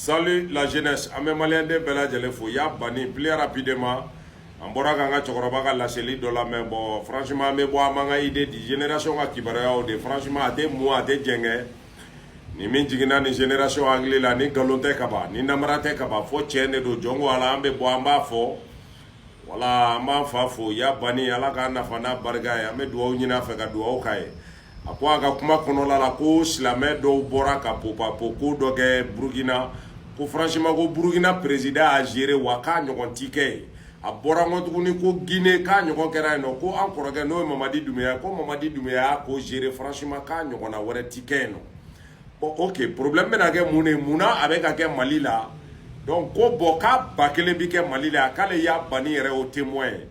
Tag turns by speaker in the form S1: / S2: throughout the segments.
S1: Salut la jeunesse, an bɛ maliyɛnden bɛɛ lajɛlen fo Ya Bani plus rapidement an bɔra k'an ka cɛkɔrɔba ka laseli dɔ lamɛn bon franchement an bɛ bɔ an b'an ka idée di génération ka kibaruyaw de franchement a tɛ mɔn a tɛ jɛngɛ ni min jiginna nin génération hakili la ni nkalon tɛ kaban ni namara tɛ kaban fo tiɲɛ de don jɔn ko ala an bɛ bɔ an b'a fɔ wala an b'an fa fo Ya Bani ala k'a nafa n'a barika ye an bɛ dugawu ɲini a fɛ ka dugawu k'a ye a ko a ka kuma kɔnɔla la ko silamɛ dɔw bɔra ka popapo ko dɔ kɛ burukina ko franchement ko burukina président y'a géré wa k'a ɲɔgɔn ti kɛ yen a bɔra n kɔ tuguni ko guinée k'a ɲɔgɔn kɛra yen nɔ ko an kɔrɔkɛ n'o ye mamadi dumuya ko mamadi dumuya y'a ko géré franchement k'a ɲɔgɔnna wɛrɛ ti kɛ yen nɔ bon ok problème bɛna kɛ mun de ye mun na a bɛ ka kɛ mali la donc ko bon k'a ba kelen bi kɛ mali la k'ale Ya Bani yɛrɛ o témoin ye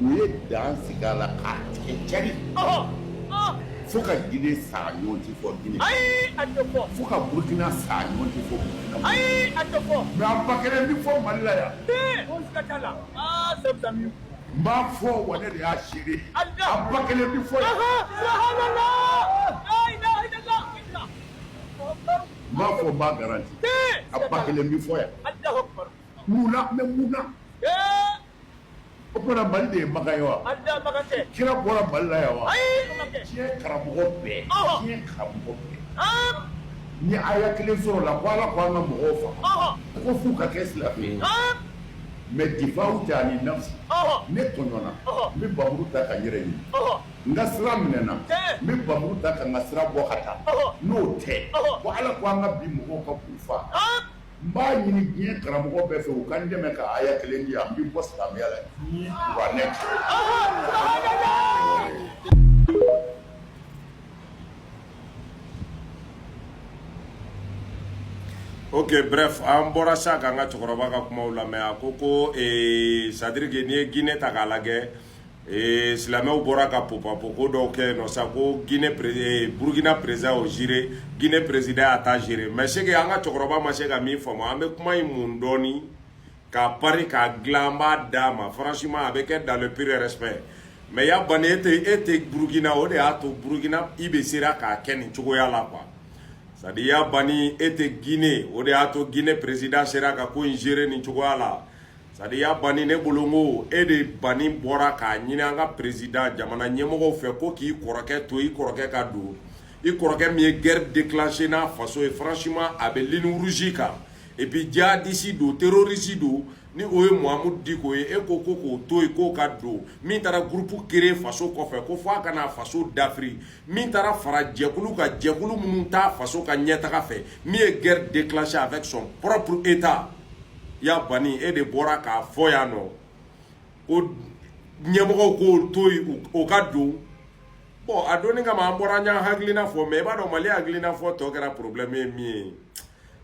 S1: u ye dan sigi a la k'a tigɛ cari fo ka Gine sa a ɲɔgɔn tɛ fɔ Gine fo ka Burukina sa a ɲɔgɔn tɛ fɔ Burukina mais a ba kelen bɛ fɔ Mali la yan n b'a fɔ wa ne de y'a seere ye a ba kelen bɛ fɔ yan n b'a fɔ n b'a garanti a ba kelen bɛ fɔ yan. Mun na mais mun na? Ee! O tuma na Mali de ye Makan ye wa? Mali de ye Makan kɛ. Kira bɔra Mali la yan wa? Ayi! O ma kɛ. Diɲɛ karamɔgɔ bɛɛ. Ɔnhɔn! Diɲɛ karamɔgɔ bɛɛ. Haan! N'u ye aya kelen sɔrɔ o la ko Ala ko an ka mɔgɔw faga. Ɔnhɔn! Ko f'u ka kɛ silamɛ ye. Haan! Mais difaw tɛ ani nafsi. Ɔnhɔn! Ne tɔɲɔna. Ɔnhɔn! N bɛ bamuru ta ka n yɛrɛ ɲini. Ɔnhɔn! N ka sira minɛna. Tiɲɛ! N bɛ bamuru ta ka n ka sira bɔ ka taa. Ɔnhɔn! N'o tɛ. Ɔnhɔn! Ko Ala ko an ka bin mɔgɔw kan k'u faa. Haan! n b'a ɲini diɲɛ karamɔgɔ bɛɛ fɛ u ka n dɛmɛ ka aya kelen di an bɛ bɔ silamɛya la kuranɛ ok bref an bɔra sa k'an ka cɛkɔrɔba ka kumaw lamɛn a ko ko ee c'est à dire que n'i ye Guinée ta k'a lajɛ ee silamɛw bɔra ka popapoko dɔw kɛ nɔ sa ko gine eh, burukina perezida y'o géré gine perezida y'a ta géré mais ce que an ka cɛkɔrɔba ma se ka min faamu an bɛ kuma in mun dɔɔni k'a pari k'a dilan an b'a d'a ma franchement a bɛ kɛ dans le pur respect mais Ya Bani e tɛ e tɛ burukina o de y'a to burukina IB sera k'a kɛ nin cogoya la quoi c'est à dire Ya Bani e tɛ gine o de y'a to gine perezida sera ka ko in géré nin cogoya la c'est à dire Ya Bani ne bolo n ko e de Bani bɔra k'a ɲini an ka perezida jamana ɲɛmɔgɔw fɛ ko k'i kɔrɔkɛ to i kɔrɔkɛ ka don i kɔrɔkɛ min ye guerre déclenché n'a faso ye franchement a bɛ ligne rouge kan et puis djihadiste don terroriste don ni o ye Mahamudu Diko ye e ko ko k'o to yen k'o ka don min taara groupe créer faso kɔfɛ ko f'a ka na faso dafiri min taara fara jɛkulu kan jɛkulu minnu tɛ faso ka ɲɛtaga fɛ min ye guerre déclenchée avec son propre état ya bani e de bɔra k'a fɔ yan nɔ ko ɲɛmɔgɔw k'o to yen o ka don bɔn a donni kama an bɔra an y'an hakilina fɔ mais i b'a dɔn mali hakilina fɔtɔ kɛra problème ye min ye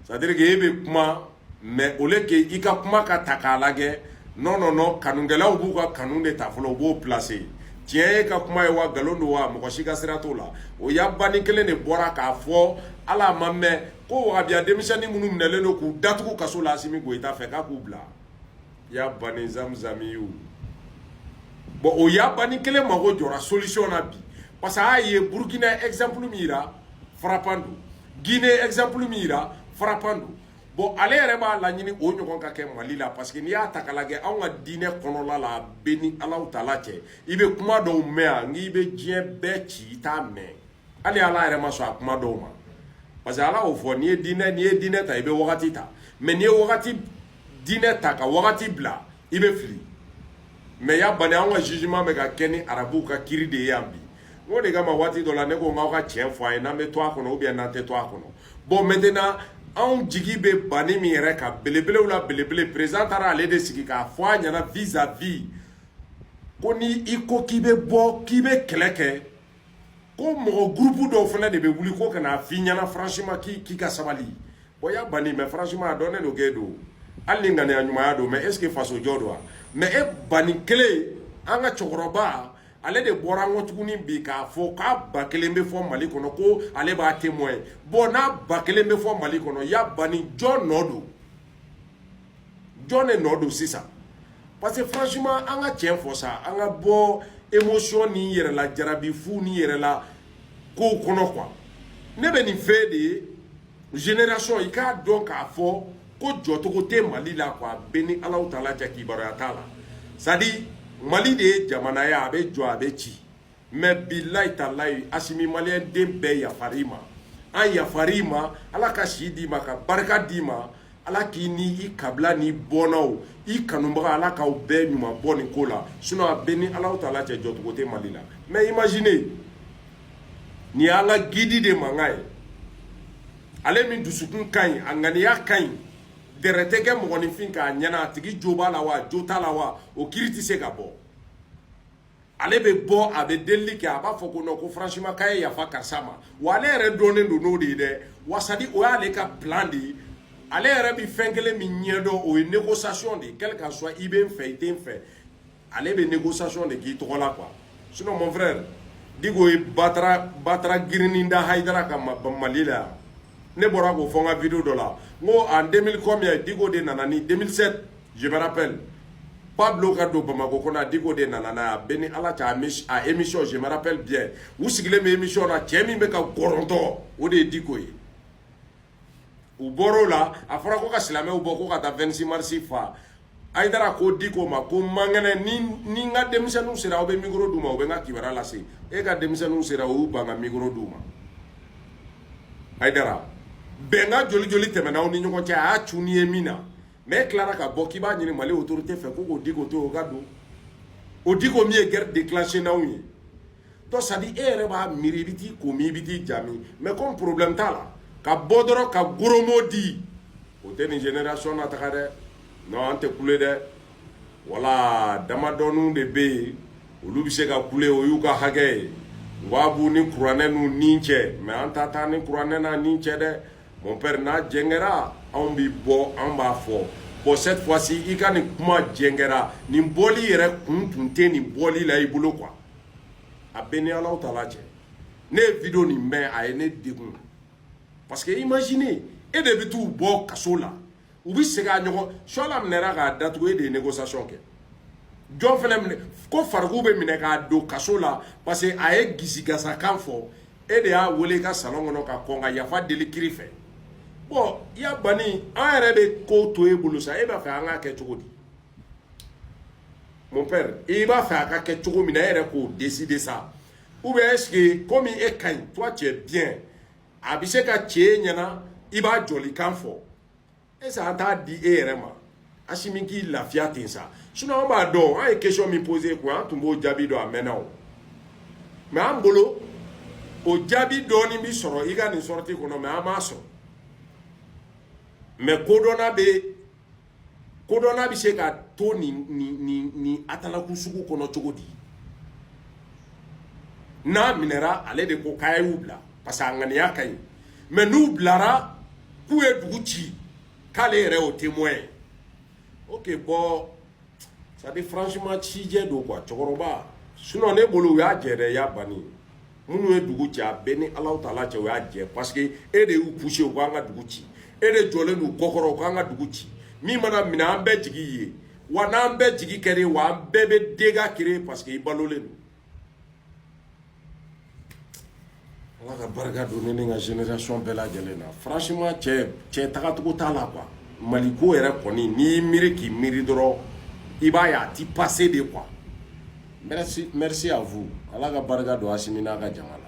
S1: c'est à dire que e bɛ kuma mais au lieu que i ka kuma ka ta k'a lajɛ non non non kanukɛlaw b'u ka kanu de ta fɔlɔ u b'o placer tiɲɛ y'a ka kuma ye wa nkalon don wa mɔgɔ si ka sira t'o la o ya bani kelen de bɔra k'a fɔ hali a m'a mɛn ko wahabiya denmisɛnnin minnu minɛlen don k'u datugu kaso la asimi goyita fɛ k'a k'u bila ya bani zamzami ye o bɔn o ya bani kelen mago jɔra solution na bi parce que a y'a ye burukina exemple min yira frappant don guinée exemple min yira frappant don bɔn ale yɛrɛ b'a laɲini o ɲɔgɔn ka kɛ mali la parce que n'i y'a ta k'a lajɛ anw ka diinɛ kɔnɔla la a bɛ n ni alawu taala cɛ i bɛ kuma dɔw mɛn yan n'i bɛ diɲɛ bɛɛ ci i t'a mɛn hali ala yɛrɛ ma sɔn a kuma dɔw ma parce que ala y'o fɔ n'i ye diinɛ n'i ye diinɛ ta i bɛ wagati ta mais n'i ye wagati diinɛ ta ka wagati bila i bɛ fili mais ya bani anw ka jugement bɛ ka kɛ ni arabuw ka kiri de ye yan bi n ko de kama waati dɔ la ne ko n k'aw ka tiɲɛ fɔ a ye n'an bɛ to a kɔnɔ ou bien n'an tɛ to a kɔnɔ bɔn maintenant anw jigi bɛ bani min yɛrɛ kan belebelew la belebele président taara ale de sigi k'a fɔ a ɲɛna vis à vis ko ni i ko k'i bɛ bɔ k'i bɛ kɛlɛ kɛ ko mɔgɔ gurupu dɔw fana de bɛ wuli ko ka n'a f'i ɲɛna franchement k'i k'i ka sabali bɔn ya bani mais franchement a dɔnnen don k'e don hali ni ŋaniya ɲumanya don mais est ce que fasojɔ don wa mais e bani kelen an ka cɛkɔrɔba ale de bɔra an kɔ tuguni bi k'a fɔ k'a ba kelen bɛ fɔ mali kɔnɔ ko ale b'a témoin bɔn n'a ba kelen bɛ fɔ mali kɔnɔ ya bani jɔn nɔ don jɔn de nɔ don sisan parce que franchement an ka tiɲɛ fɔ sa an ka bɔ émotion ni yɛrɛla jarabi fu ni yɛrɛla kow kɔnɔ quoi ne bɛ nin f'e de ye génération i k'a dɔn k'a fɔ ko jɔcogo tɛ mali la quoi a bɛ n ni alawu taala cɛ kibaruya t'a la c'est à dire mali de ye jamana ye a bɛ jɔ a bɛ ci mais bilayi talayi asimi maliyɛn den bɛɛ yafar'i ma an yafar'i ma ala ka si d'i ma ka barika d'i ma ala k'i ni i kabila n'i bɔnnaw i kanubaga ala k'aw bɛɛ ɲuman bɔ nin ko la sinon a bɛ n ni alawu taala cɛ jɔcogo tɛ mali la mais imagine nin ye ala gidi de mankan ye ale min dusukun ka ɲi a ŋaniya ka ɲi dɛrɛ tɛ kɛ mɔgɔninfin k'a ɲɛna a tigi jo b'a la wa a jo t'a la wa o kiri tɛ se ka bɔ ale bɛ bɔ a bɛ delili kɛ a b'a fɔ ko non ko franchement k'a ye yafa karisa ma wa ale yɛrɛ dɔnnen don n'o de ye dɛ wa c'est à dire o y'ale ka bilan de ye ale yɛrɛ bɛ fɛn kelen min ɲɛdɔn o ye négociation de ye quel que soit i b'a fɛ i t'a fɛ ale bɛ négociation de k'i tɔgɔ la quoi sinon mon frère Diko ye batara batara girinni da Hayidara kan Mali la yan ne bɔra k'o fɔ n ka video dɔ la n ko en 2000 combien Diko de nana ni 2007 Je me rappelle, Pablo ka don Bamako kɔnɔ a diko de nana n'a ye a bɛ ni Ala cɛ a émission je me rappelle bien u sigilen bɛ émission na cɛ min bɛ ka gɔrɔntɔ o de ye diko ye u bɔr'o la a fɔra ko ka silamɛw bɔ ko ka taa 26 mars fa hayidara ko diko ma ko mankɛnɛ ni ni n ka denmisɛnninw sera aw bɛ mikoro d'u ma u bɛ n ka kibaruya lase e ka denmisɛnninw sera u y'u ban ka mikoro d'u ma hayidara bɛnkan joli joli tɛmɛna aw ni ɲɔgɔn cɛ a y'a cun n'i ye min na mɛ tilara ka bɔ k'i b'a ɲini mali otorite fɛ ko ko diko to o ka don o diko min ye gɛri dekilanse n'aw ye donc c'est à dire e yɛrɛ b'a miiri i bɛ t'i ko min i bɛ t'i ja min mɛ kɔmi porobilɛmu t'a la ka bɔ dɔrɔn ka goromo di o tɛ nin jenerasɔn nataga dɛ nɔn an tɛ kule dɛ wala damadɔninw de bɛ yen olu bɛ se ka kule o y'u ka hakɛ ye w'a b'u ni kuranɛ n'u ni cɛ mɛ an ta t'an ni kuranɛ n'an ni cɛ dɛ Mon père n'a jɛngɛra anw bi bɔ anw b'a fɔ bon cette fois ci i ka nin kuma jɛngɛra nin bɔli yɛrɛ kun tun tɛ nin bɔli la i bolo quoi a bɛ ni Alahu taala cɛ ne ye video nin mɛn a ye ne degun parce que imagine e de bɛ t'u bɔ kaso la u bɛ segin k'a ɲɔgɔn suala minɛra k'a datugu e de ye négociation kɛ jɔn fana minɛ ko fariku bɛ minɛ k'a don kaso la parce que a ye gisigasakan fɔ e de y'a wele i ka salon kɔnɔ ka kɔn ka yafa deli kiiri fɛ bɔn y'a banni an yɛrɛ bɛ ko to e bolo sa e b'a fɛ an k'a kɛ cogo di mon père i b'a fɛ a ka kɛ cogo min na e yɛrɛ k'o décider sa ou bien est ce que komi e ka ɲi toi tu es bien a bɛ se ka kɛ ɲɛ na i b'a jɔlikan fɔ e sa an t'a di e yɛrɛ ma asimi k'i lafiya ten sa sinon an b'a dɔn an ye question min pose koyi an tun b'o jaabi dɔn a mɛnna o mɛ an bolo o jaabi dɔɔni bi sɔrɔ i ka nin sɔrɔti kɔnɔ mɛ an m'a sɔrɔ mɛ kodɔnna bɛ kodɔnna bɛ se ka to nin nin nin nin atalaku sugu kɔnɔ cogo di n'a minɛra ale de ko k'a y'u bila parce que a ŋaniya ka ɲi mɛ n'u bilara k'u ye dugu ci k'ale yɛrɛ y'o témoin ye ok bɔn c'est à dire franchement cijɛ don quoi cɛkɔrɔba sinon ne bolo u y'a jɛ dɛ i y'a banni minnu ye dugu cɛn a bɛɛ ni ala tala cɛ o y'a jɛ paseke e de y'u puse u k'an ka dugu ci e de jɔlen don kɔkɔrɔ u k'an ka dugu ci min mana minɛ an bɛɛ jigi ye wa n'an bɛɛ jigi kɛra wa an bɛɛ bɛ dega kere paseke i balolen don ala ka barika don ne ni n ka generation bɛɛ lajɛlen na franchement cɛ cɛ tagacogo t'a la quoi mali ko yɛrɛ kɔni n'i y'i miiri k'i miiri dɔrɔn i b'a ye a ti passe de quoi Merci, merci à vous. Ala ka barika don Asimi n'a ka jama la.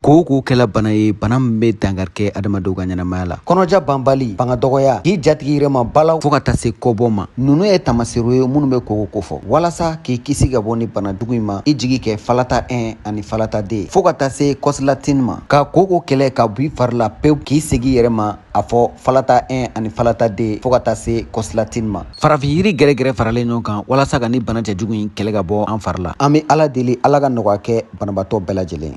S1: koko kɛla bana ye bana min bɛ dankari kɛ adamadenw ka ɲɛnamaya la kɔnɔja banbali fanga dɔgɔya k'i jatigi yɛrɛ ma balaw fɔɔ ka taa se kɔbɔ ma nunu ye tamaserew ye minnu bɛ koko kofɔ walasa k'i kisi ka bɔ ni bana jugu in ma i jigi kɛ falata 1 ani falata 2 fɔɔ ka taa se kɔsilatin ma ka koko kɛlɛ ka b'i fari la pewu k'i segin yɛrɛ ma a fɔ falata 1 ani falata 2 fɔɔ ka taa se kɔsilatini ma farafin yiri gɛrɛgɛrɛ faralen ɲɔgɔn kan walasa ka ni bana cɛjugu in kɛlɛ ka bɔ an fari la an bɛ ala deli ala ka nɔgɔya kɛ banabaatɔ bɛɛ lajɛlen